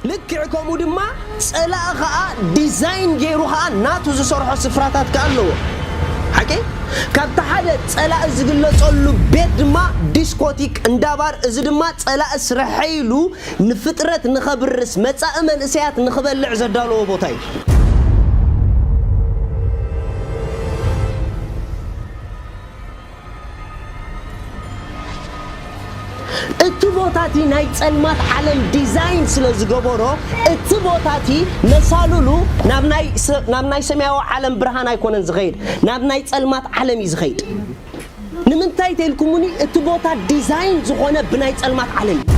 ልክዕ ከምኡ ድማ ጸላኢ ኸኣ ዲዛይን ገይሩ ኸኣ ናቱ ዝሰርሖ ስፍራታት ከኣ ኣለዎ። ሓቂ ካብቲ ሓደ ጸላኢ ዝግለጸሉ ቤት ድማ ዲስኮቲክ፣ እንዳ ባር፣ እዚ ድማ ጸላኢ ስርሐ ኢሉ ንፍጥረት ንኸብርስ፣ መጻኢ መንእሰያት ንኽበልዕ ዘዳለዎ ቦታ እዩ። እቲ ቦታ እቲ ናይ ጸልማት ዓለም ዲዛይን ስለ ዝገበሮ እቲ ቦታ እቲ መሳልሉ ናብ ናይ ናብ ናይ ሰማያዊ ዓለም ብርሃን ኣይኮነን ዝኸይድ ናብ ናይ ጸልማት ዓለም እዩ ዝኸይድ ንምንታይ ተልኩሙኒ እቲ ቦታ ዲዛይን ዝኾነ ብናይ ጸልማት ዓለም እዩ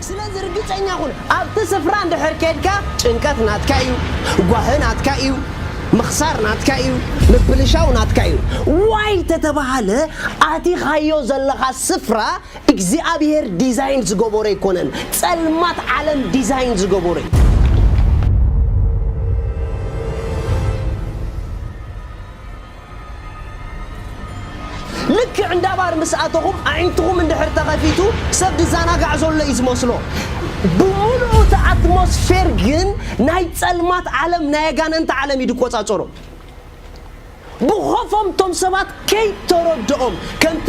ስለዚ ርግጸኛ ኩን ኣብቲ ስፍራ እንድሕር ኬድካ ጭንቀት ናትካ ኢዩ ጓሂ ናትካ ኢዩ ምኽሳር ናትካ ኢዩ ምብልሻው ናትካ ኢዩ ዋይ ተተባሃለ ኣቲኻዮ ዘለኻ ስፍራ እግዚኣብሄር ዲዛይን ዝገበሮ ኣይኮነን ጸልማት ዓለም ዲዛይን ዝገበሮ ኢዩ ልክዕ እንዳ ባር ምስ ኣተኹም ኣዒንትኹም እንድሕር ተኸፊቱ ሰብ ዝዛናጋዕ ዘሎ እዩ ዝመስሎ። ብምሉኡ እቲ ኣትሞስፌር ግን ናይ ጸልማት ዓለም ናይ ኣጋነንቲ ዓለም እዩ ዝቆጻጸሮ። ብኾፎም እቶም ሰባት ከይተረድኦም ከምቲ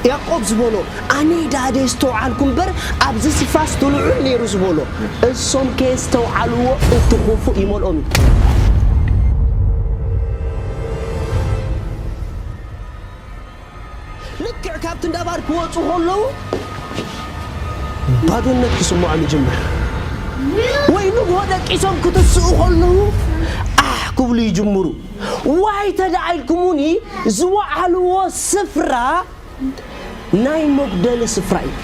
ያእቆብ ዝበሎ ኣነ ዳደ ኣስተውዓልኩ እምበር ኣብዚ ስፍራስ ድልዑል ነይሩ ዝበሎ እሶም ከየስተውዓልዎ እቲ ኹፉእ ይመልኦም እዩ። ልክዕ ካብቲ እንዳ ባር ክወጹ ከለዉ ባዶነት ክስምዖም ይጅምር። ወይ ንግሆ ደቂሶም ክትስኡ ከለዉ ኣሕ ክብሉ ይጅምሩ። ዋይ ተዳኢልኩሙኒ ዝዋዓልዎ ስፍራ ናይ መጉደሊ ስፍራ እዩ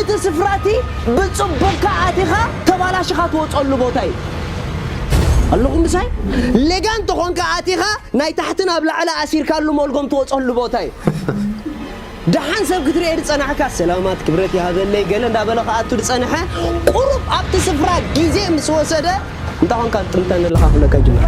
እቲ ስፍራ እቲ ብጽቡቅካ ኣቲኻ ተባላሽኻ ትወጸሉ ቦታ እዩ ኣለኹም ምሳይ ሌጋን ተኾንካ ኣቲኻ ናይ ታሕቲ ናብ ላዕሊ ኣሲርካሉ ሞልጎም ትወጸሉ ቦታ እዩ ደሓን ሰብ ክትርኤ ዝጸናሕካ ሰላማት ክብረት ይሃበለይ ገለ እንዳበለ ክኣቱ ዝጸንሐ ቁሩብ ኣብቲ ስፍራ ግዜ ምስ ወሰደ እንታይ ኮንካ ትጥምተኒ ኣለኻ ክብለካ ይጅምር።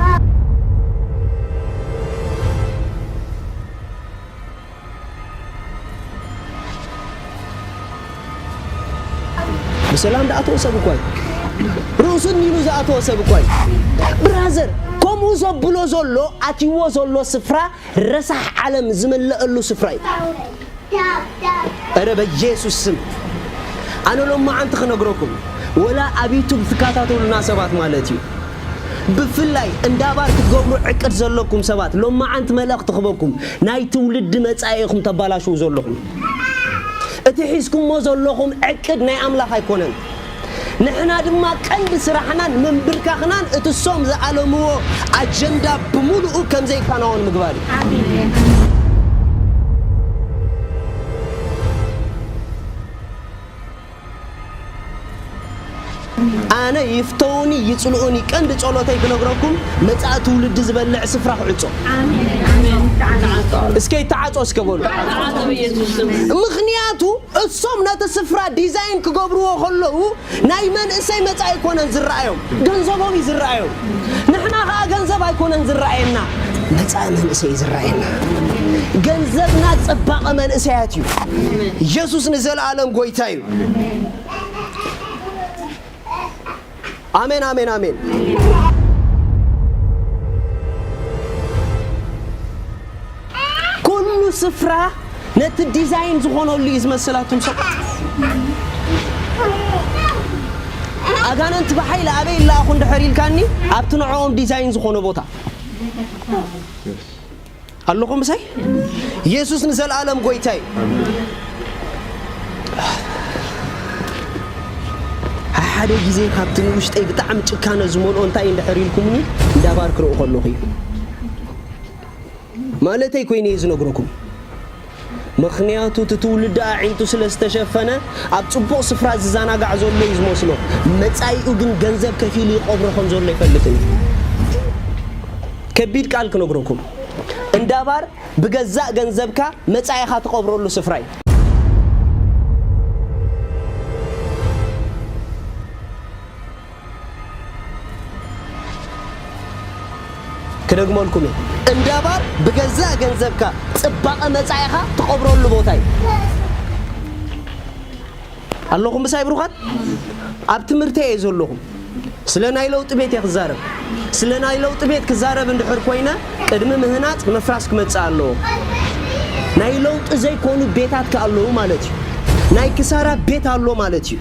ብሰላም ዝኣተወ ሰብ እኳ እዩ። ርእሱ ኒሉ ዝኣተወ ሰብ እኳ እዩ። ብራዘር ከምኡ ዘብሎ ዘሎ ኣትይዎ ዘሎ ስፍራ ረሳሕ ዓለም ዝመለኣሉ ስፍራ እዩ እረ በየሱስ ስም ኣነ ሎማዓንቲ ክነግረኩም ወላ ኣብ ዩቱብ ትካታተሉና ሰባት ማለት እዩ ብፍላይ እንዳባር ክትገብሩ ዕቅድ ዘለኩም ሰባት ሎማዓንቲ መልእኽቲ ክበኩም ናይ ትውልዲ መጻኢ ኢኹም ተባላሽው ዘለኹም እቲ ሒዝኩሞ ዘለኹም ዕቅድ ናይ ኣምላኽ ኣይኮነን ንሕና ድማ ቀንዲ ስራሕናን ምንብርካኽናን እቲ እሶም ዝኣለምዎ ኣጀንዳ ብምሉኡ ከም ዘይከናወን ምግባር እዩ። ኣነ ይፍተዉኒ ይጽልኡኒ ቀንዲ ጸሎተይ ክነግረኩም መጻኢ ትውልዲ ዝበልዕ ስፍራ ክዕጾ እስከ ይተዓጾ እስከ በሉ ምኽንያቱ እሶም ነቲ ስፍራ ዲዛይን ክገብርዎ ከለዉ ናይ መንእሰይ መጻኢ ኣይኮነን ዝረኣዮም ገንዘቦም እዩ ዝረኣዮም ንሕና ከኣ ገንዘብ ኣይኮነን ዝረኣየና መጻኢ መንእሰይ እዩ ዝረኣየና ገንዘብና ጽባቐ መንእሰያት እዩ ኢየሱስ ንዘለኣለም ጎይታ እዩ ኣሜን ኣሜን ኣሜን። ኩሉ ስፍራ ነቲ ዲዛይን ዝኾነሉ እዩ ዝመስል ኣቱም ሰባት ኣጋንንቲ ብሓይሊ ኣበይ ይለኣኹ እንድሕር ኢልካኒ ኣብቲ ንዕኦም ዲዛይን ዝኾነ ቦታ ኣለኹም ምሳይ የሱስ ንዘለኣለም ጎይታ እዩ ሓደ ግዜ ካብቲ ንውሽጠይ ብጣዕሚ ጭካነ ዝመልኦ እንታይ እንድሕር ኢልኩምኒ እንዳባር ክርኢ ከለኹ እዩ ማለተይ ኮይኑ እየ ዝነግረኩም ምኽንያቱ እቲ ትውልዲ ኣዒንቱ ስለ ዝተሸፈነ ኣብ ጽቡቕ ስፍራ ዝዘናጋዕ ዘሎ እዩ ዝመስሎ፣ መጻኢኡ ግን ገንዘብ ከፊሉ ይቐብሮ ከም ዘሎ ኣይፈልጥን እዩ። ከቢድ ቃል ክነግረኩም፣ እንዳ ባር ብገዛእ ገንዘብካ መጻኢኻ ትቐብረሉ ስፍራ እዩ። ክደግመልኩም እየ እንዳባር ብገዛእ ገንዘብካ ፅባቐ መፃኢኻ ትቐብረሉ ቦታ እዩ። ኣለኹም ምሳይ ብሩኻት? ኣብ ትምህርተይ እየ ዘለኹ። ስለ ናይ ለውጢ ቤት እየ ክዛረብ። ስለ ናይ ለውጢ ቤት ክዛረብ እንድሕር ኮይነ ቅድሚ ምህናፅ ምፍራስ ክመፅእ ኣለዎ። ናይ ለውጢ ዘይኮኑ ቤታት ከ ኣለዉ ማለት እዩ። ናይ ክሳራ ቤት ኣሎ ማለት እዩ።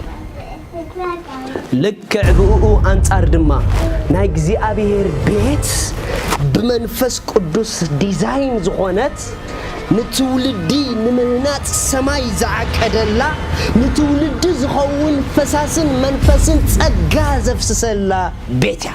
ልክዕ ብእኡ ኣንጻር ድማ ናይ እግዚኣብሔር ቤት ብመንፈስ ቅዱስ ዲዛይን ዝኾነት ንትውልዲ ንምህናጽ ሰማይ ዝዓቀደላ ንትውልዲ ዝኸውን ፈሳስን መንፈስን ጸጋ ዘፍስሰላ ቤት እያ።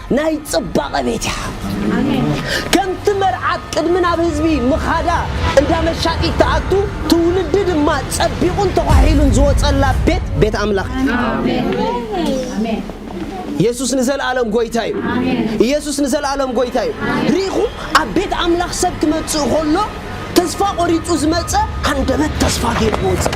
ናይ ጽባቐ ቤት እያ ከምቲ መርዓት ቅድሚ ናብ ህዝቢ ምኻዳ እንዳ መሻጢት ትኣቱ ትውልዲ ድማ ጸቢቑን ተዃሒሉን ዝወጸላ ቤት ቤት ኣምላኽ እያ ኢየሱስ ንዘልኣለም ጎይታ እዩ ኢየሱስ ንዘልኣለም ጎይታ እዩ ርኢኹም ኣብ ቤት ኣምላኽ ሰብ ክመጽእ ከሎ ተስፋ ቆሪጹ ዝመጸ ኣንደበት ተስፋ ገይሩ ክወጽእ